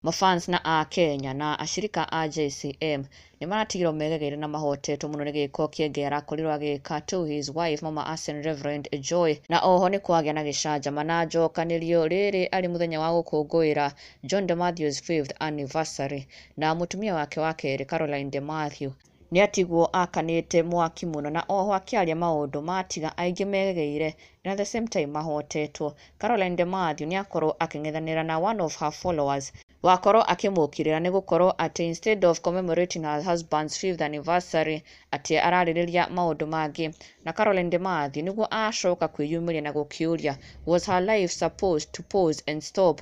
Mafans na Akenya na ashirika a JCM nĩmaratigirwo megegeire na mahotetwo mũno nĩ gĩĩko kĩengei arakorirwo agĩĩka to his wife mama Arsene Rev Joy na oho nĩkwagĩa na gĩcanjama na njokanĩrio rĩrĩ arĩ mũthenya wa gũkũngũĩra John de Matthews fifth anniversary na mũtumia wake wa kerĩ Caroline de Mathew Nĩatigwo akanĩte mwaki mũno na oho akĩaria maũndũ ma tiga aingĩ megegeire and at the same time mahotetwo. Caroline De Mathew nĩakorwo akĩng'ethanĩra na one of her followers wakorwo akĩmũkĩrĩra nĩgũkorwo atĩ instead of commemorating her husband's fifth anniversary atĩ ararĩrĩria maũndũ mangĩ. Na Caroline De Mathew nĩguo acoka kwĩyumĩria na gũkĩũria was her life supposed to pause and stop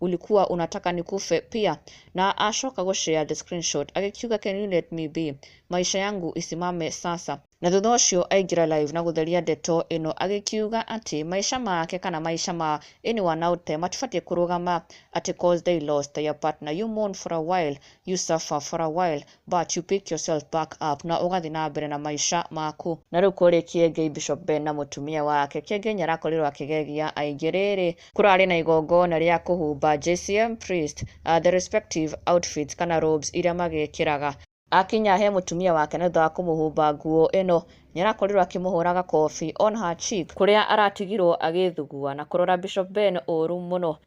Ulikuwa unataka nikufe pia na acoka gũshare the screenshot agĩkiuga can you let me be maisha yangu isimame sasa na thutha ũcio aingĩra live na gũtheria ndeto ĩno agĩkiuga atĩ maisha make kana maisha ma anyone out there matibatiĩ kũrũgama atĩ cause they lost their partner you mourn for a while you suffer for a while But you pick yourself back up na ũgathi na mbere na maica maku. Na rĩu kũrĩ Kĩengei Bishop Ben na mũtumia wake. Kĩengei nĩarakorirwo akĩgegia aingĩ. Rĩrĩ. Kũrarĩ na igongona rĩa kũhumba JCM priest a the respective outfits kana robes iria magĩkĩraga. Akinya he mũtumia wake na thutha wa kũmũhumba nguo ĩno, nĩarakorirwo akĩmũhũra gakobi on her cheek. Kũrĩa aratigirwo agĩthugua na kũrora Bishop Ben ũũru mũno.